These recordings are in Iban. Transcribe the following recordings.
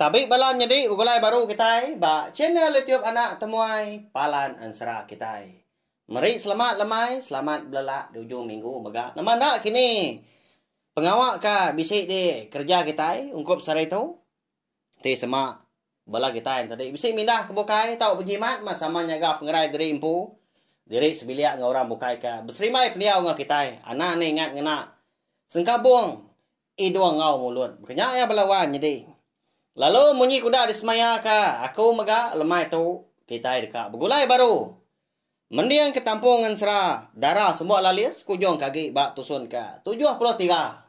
Tabi bala nyedi begulai baru kitai ba channel YouTube anak temuai Palan Ensera kitai. Meri selamat lemai, selamat belelak di ujung minggu mega. Nama enda kini pengawa ka bisi di kerja kitai ungkup sehari tu. Ti sema bala kitai enti tadi bisi mindah ke bukai tau bejimat mah sama nyaga pengerai diri empu, diri sebilik enggau orang bukai ka beserimbai pendiau enggau kitai. Anang ne ingat ngena sengkabung Idung enggau mulut. Baka nya iya bela wan nyadi. Lalu munyi kuda disemaya ka aku mega lemai tu kitai deka begulai baru. Mending ke tampung ngensera dara sumbo lalis ke ujung ke agi ba tusun ke tujuh puluh tiga.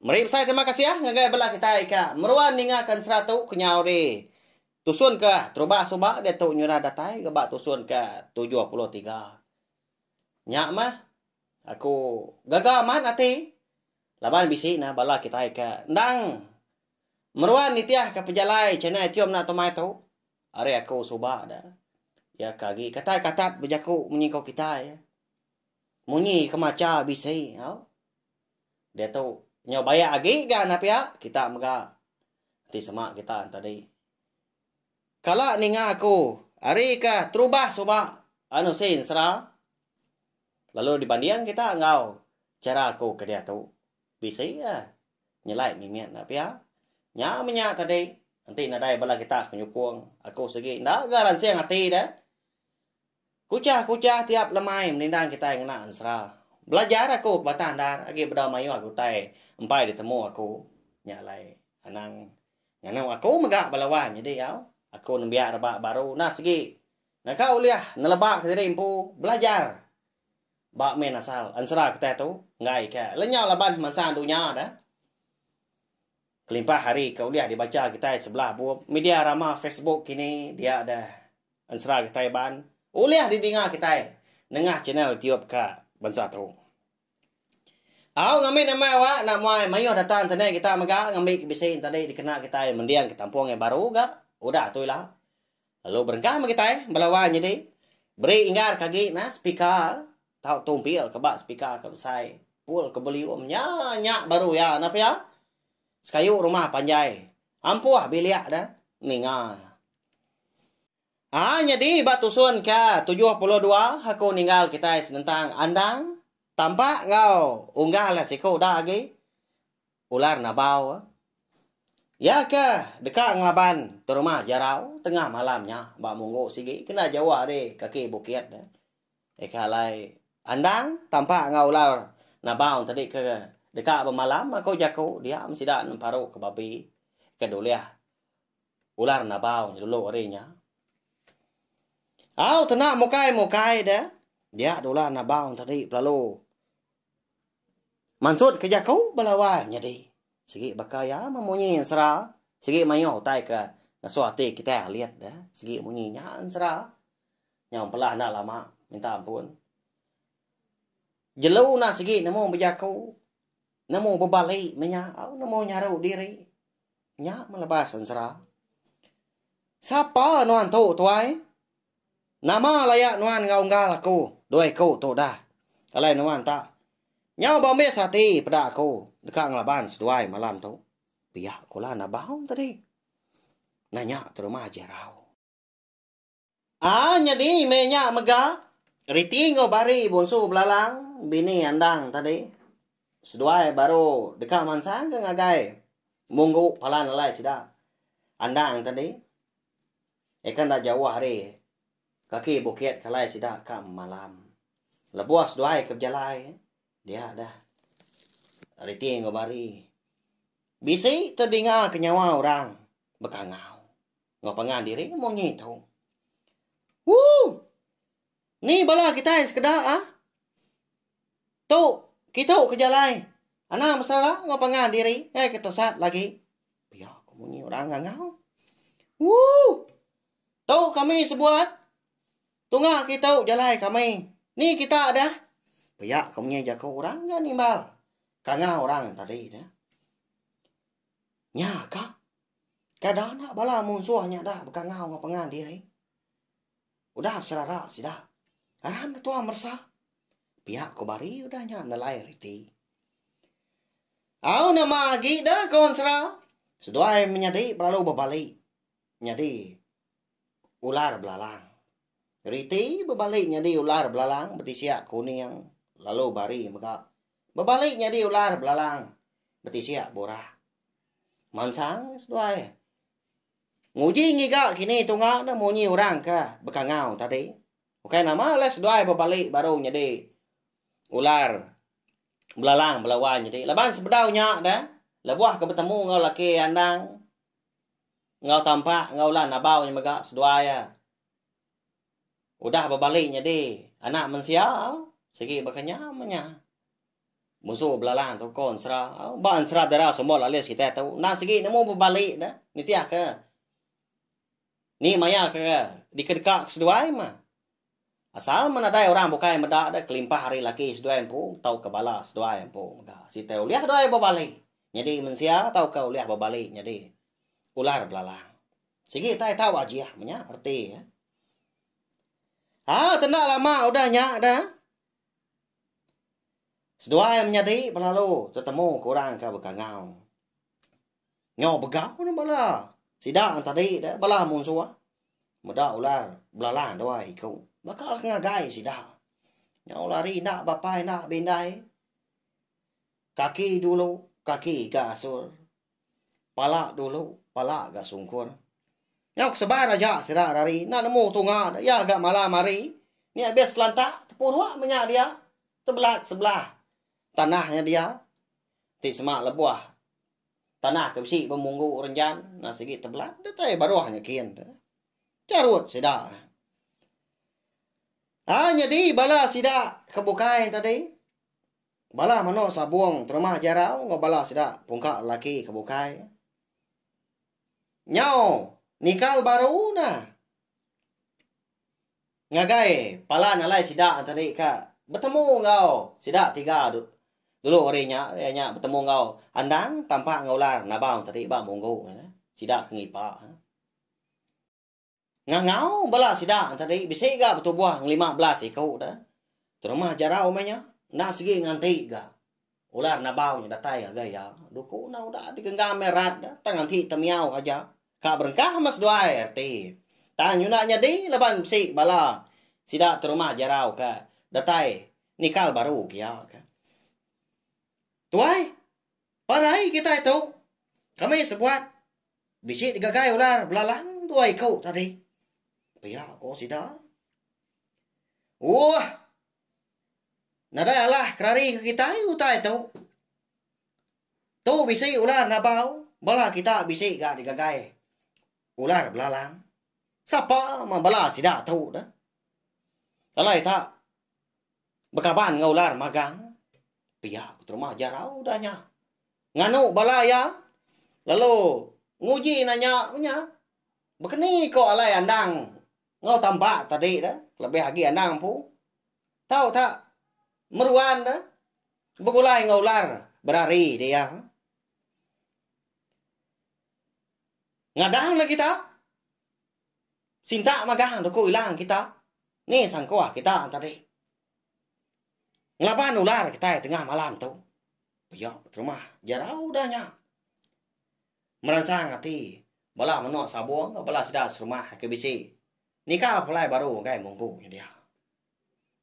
Meri besai terima kasih ngagai bela kitai ke meruan ninga ke ensera tu kenyau di tusun ke terubah suba diatu nyurah datai ga ba tusun ke tujuh puluh tiga. Nya mah. Aku gaga amat ati. Laban bisi nah bala kitai ka endang meruan nitih ka pejalai China itium enda tu mai tu. Ari aku suba da. Ya ka agi katat katat bejaku munyi ko kitai. Munyi ke macha bisi. Au. Dia tu nyau bayak agi ga nah pia kita mega ti sema kita tadi. Kala ninga aku ari ka terubah suba anu sin sera lalu dibanding kita enggau chara aku kediatu bisi a nyelai mimit enda pia nya menya tadi enti nadai bala kita ke nyukung aku sigi enda ga ransing ati deh. Kuchah-kuchah tiap lemai menindang kitai ngena ensera. Belajar aku ke batang endar agi bedau mayuh aku utai empai ditemu aku. Nya alai anang nganu aku mega bala wan nyadi au. Aku nembiak rebak baru nah sigi naka ulih nelebaka diri empu belajar ba min asal ensera kitai tu enggai ka lenyau laban mansang dunya da. Kelimpah ari ke ulih dibacha kitai sebelah bup media rama Facebook kini dia deh ensera kitai ban ulih didinga kitai nengah channel YouTube ka bansa tu. Au ngambi nama awa enda muai mayuh data internet kita mega ngambi ke bisi enti tadi dikena kitai mending ke tampung yang baru ga udah tu ila. Lalu berenggang meh kitai bala wai nyadi beri inggar ke agi nah spika tau tumpil ke ba spika ke besai pul ke belium nya nya baru iya nah pia sekayu rumah panjai ampuh bilik da ninga. Aa nyadi ba tusun ke tujuh puluh dua aku ninggal kitai senentang andang tampak enggau unggal siku da agi. Ular Nabau. Iya ke deka ngelaban terumah Jarau tengah malam nya ba Munggu sigi kena jauh ari kaki bukit. Eka alai Andang tampak enggau Ular Nabau tadi ke deka bemalam aku jaku dia meh sida nemparu ke babi ke dulih Ular Nabau dulu ari nya. Au tena mukai-mukai deh dia Ular Nabau tadi pelalu. Mansut ke jaku bala wai nyadi. Sigi baka iya meh munyi ensera sigi mayuh utai ke ngesuh ati kitai alit ne sigi munyi nya ensera nyau empelah enda lama minta ampun. Jelu enda sigi nemu bejaku nemu bebali meh nya au nemu nyaru diri nya meh lebas ensera. Sapa nuan tu tuai? Nama laya nuan enggau unggal aku dua iku tu dah. Alai nuan ta. Nyau bambis ati peda aku deka ngelaban seduai malam tu. Pia kula enda baung tadi. Nanya terumah Jerau. Aa nyadi meh nya mega riti enggau bari bonsu belalang bini andang tadi. Seduai baru deka mansang ke ngagai munggu palan alai sida andang tadi. Eka enda jauh ari kaki bukit kalai sida ka malam. Lebuh seduai ke bejalai, dia dah reti enggau bari. Bisi tedinga ke nyawa orang bekangau enggau pangan diri munyi tu. Woo! Ni bala kitai sekeda a. Tu kitu ke jalai anang mesara enggau pangan diri ngai ke tesat lagi. Pia ko munyi orang ngangau. Woo. Tu kami sebuat tunga kitu jalai kami. Ni kita dah. Pia ko munyi jaku orang ga nimbal kangau orang tadi dah. Nya ka. Kada anak bala munsuh nya da bekangau enggau pangan diri. Udah serara sida. Aram deh tua meresa. Pia ko Bari udah nya nelai reti. Au nama agi deh kawan sera. Seduai menyadi belalu bebali. Nyadi ular belalang. Reti bebali nyadi ular belalang betisiak kuning lalu Bari mega bebali nyadi ular belalang betisiak burak. Mansang seduai. Nguji ngiga kini tunga ne munyi orang ka bekangau tadi. Ukai nama lah seduai bebalik baru nyadi ular belalang belawan nyadi. Laban sebedau nya da lebuh ke betemu enggau laki andang enggau tampak enggau ulah nabau nya mega seduai ya. udah bebali nyadi anak mensia sigi bekenyam nya. Musu belalang tu ko ensra, ba ensra dera semua lalis kita tu. Nan sigi nemu bebali da nitih ke ni maya ke dikedeka ke seduai ma. Asal men ada orang bukai meda da kelimpah ari laki seduai empu tauka bala seduai empu mega. Siti ulih doi bebali nyadi mensia tauka ulih bebali nyadi ular belalang. Sigi kitai tau ajih menya reti iya. Ah, tenda lama udah nya dah. Seduai menyadi belalu tetemu ke orang ke bekangau. Nyau begau ni bala. Sida tadi dah bala munsuh. Meda ular belalang dua iku. Baka ngagai sida. Nyau lari enda bapai enda bindai. Kaki dulu, kaki ga asur. Pala dulu, pala ga sungkun. Nyau kesebar aja sida rari enda nemu tunga da iya ga malam hari ni abis selanta tepurua meh nya dia tebelat sebelah tanah nya dia ti sema lebuh tanah ke bisi bemunggu renjan na sigi tebelat da tai baruh nya kin tu charut sida. Ai nyadi bala sida ke bukai tadi. Bala menu sabung terumah jarau enggau bala sida pungka lelaki ke bukai. Nyau nikal baru nah. Ngagai palan alai sida tadi ka betemu enggau sida tiga dulu hari nya iya nya betemu enggau Andang, Tampak enggau Ular nabau tadi ba Munggu sida ke ngipa. Ngangau bala sida tadi bisi ga betubuh ngelima belas iku da. Terumah jarau meh nya enda sigi nganti ga ular nabau nya datai ngagai iya. Duku enda udah digenggam iya rat da tang enti temiau aja ka berengkah meh seduai reti. Tang nyuda nyadi laban bisi bala sida terumah jarau ka datai nikal baru ke iya ka. Tuai, parai kitai tu kami sebuat. Bisi digagai ular belalang dua iku tadi. Pia ko sida. Uah. Nadai alah kerari ke kitai utai tu. Tu bisi ular nabau bala kita bisi ga digagai ular belalang. Sapa ma bala sida tu dah. Alai tak Bekaban enggau ular magang pia ku terma jarau udah nya. Nganu bala iya lalu nguji nang nya meh nya. Bekeni ko alai andang enggau tambak tadi tu lebih agi andang empu tau tak meruan deh begulai enggau ular berari dek iya. Ngadang lagi tak. Sintak magang duku ilang kita ni sangkua kita tadi. Ngelaban ular kitai tengah malam tu. Pia terumah jarau udah nya. Meransang ati bala menua Sabong enggau bala sida serumah ke bisi nika pulai baru ngagai munggu nya dia.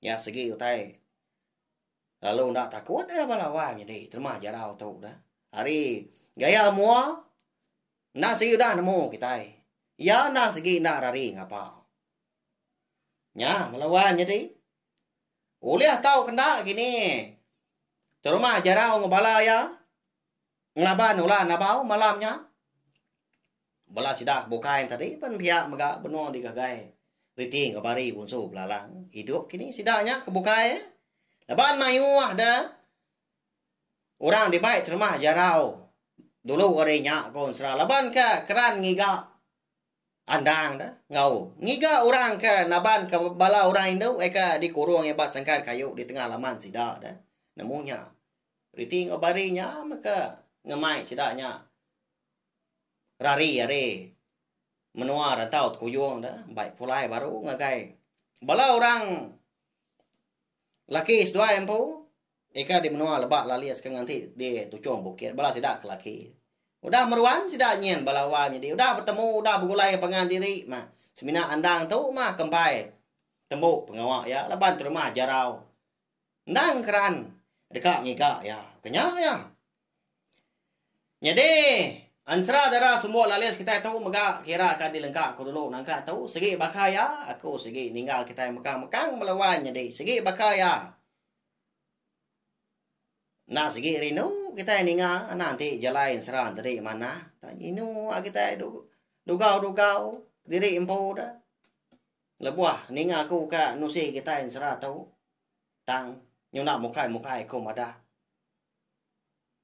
Nya segi utai lalu enda takut bala wang nyadi terumah jarau tu dah. Ari gaya mua Enda sigi udah nemu kitai. Iya enda sigi enda rari ngapa. Nya bala wan nyadi. Ulih tau kenda kini terumah jarau ngebala iya ngelaban ulah nabau malam nya. Bala sida ke bukai tadi pen pia mega benung digagai reti enggau bari bunsu belalang. Idup kini sida nya ke bukai laban mayuh da. Orang dibai termah jarau dulu ari nya ku Ensera laban ke keran ngiga andang da enggau ngiga orang ke naban ke bala orang indu ai ke dikurung ba sangkar kayu di tengah laman sida da nemu nya reti enggau bari nya mega ngemai sida nya rari ari menua rantau Tukuyung da mbai pulai baru ngagai bala orang laki seduai empu. Eka di menua leba lalis ke nganti di tuchung bukit bala sida ke laki. Udah meruan sida nyin bala wai nyadi udah betemu udah begulai pangan diri mah semina andang tu mah ke empai tembu pengawa iya laban terumah jarau endang keran deka ngiga iya ke nya iya. Nyadi ensera dara sembu lalis kitai tu mega kira ka dilengka ku dulu nangka tu sigi baka iya aku sigi ninggal kitai mekang-mekang bala wai nyadi sigi baka iya. Enda segi rindu kitai ninga anak ti jalai ensera tadi manah. Tang inu agi kitai dugau-dugau diri empu da lebuh ninga ku ka nusi kitai ensera tu tang nyunak mukai-mukai ku madah.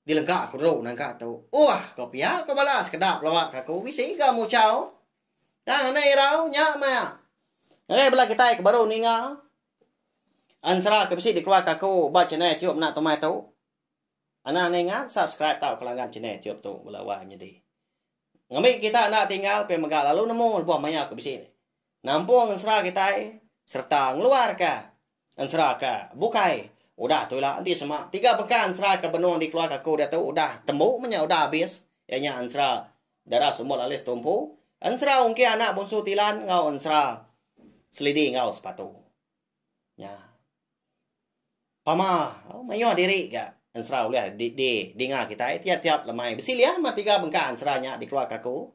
Dilengka aku dulu nangka tu. Uah, ko pia ko bala sekeda pelawa ke aku bisi ga muchau. Tang anai irau nya maya. Ngagai bala kitai ke baru ninga ansra ke bisi dikeluarka aku ba channel Tiup Mena Tumai tu. Anang anai ngat subscribe tauka langgan channel Tiup tu bala wang nyadi. Ngambi kita enda tinggal pia mega lalu nemu lebuh maya aku bisi Nampung ensera kitai sereta ngeluarka ensera ke bukai. Udah tu ila enti sema tiga bengkah ensera ke benung dikeluarka aku diatu udah tembu menya udah abis iya nya ensera Dara Sumbul Alice Tumpu, ensera Ungkir Anak Bunsu Tilan enggau ensera Selidi enggau Sepatu. Nya. Pama mayuh diri ga ensera ulih di, di dinga kitai tiap-tiap lemai. Bisi lian mah tiga bengkah ensera nya dikeluarka aku.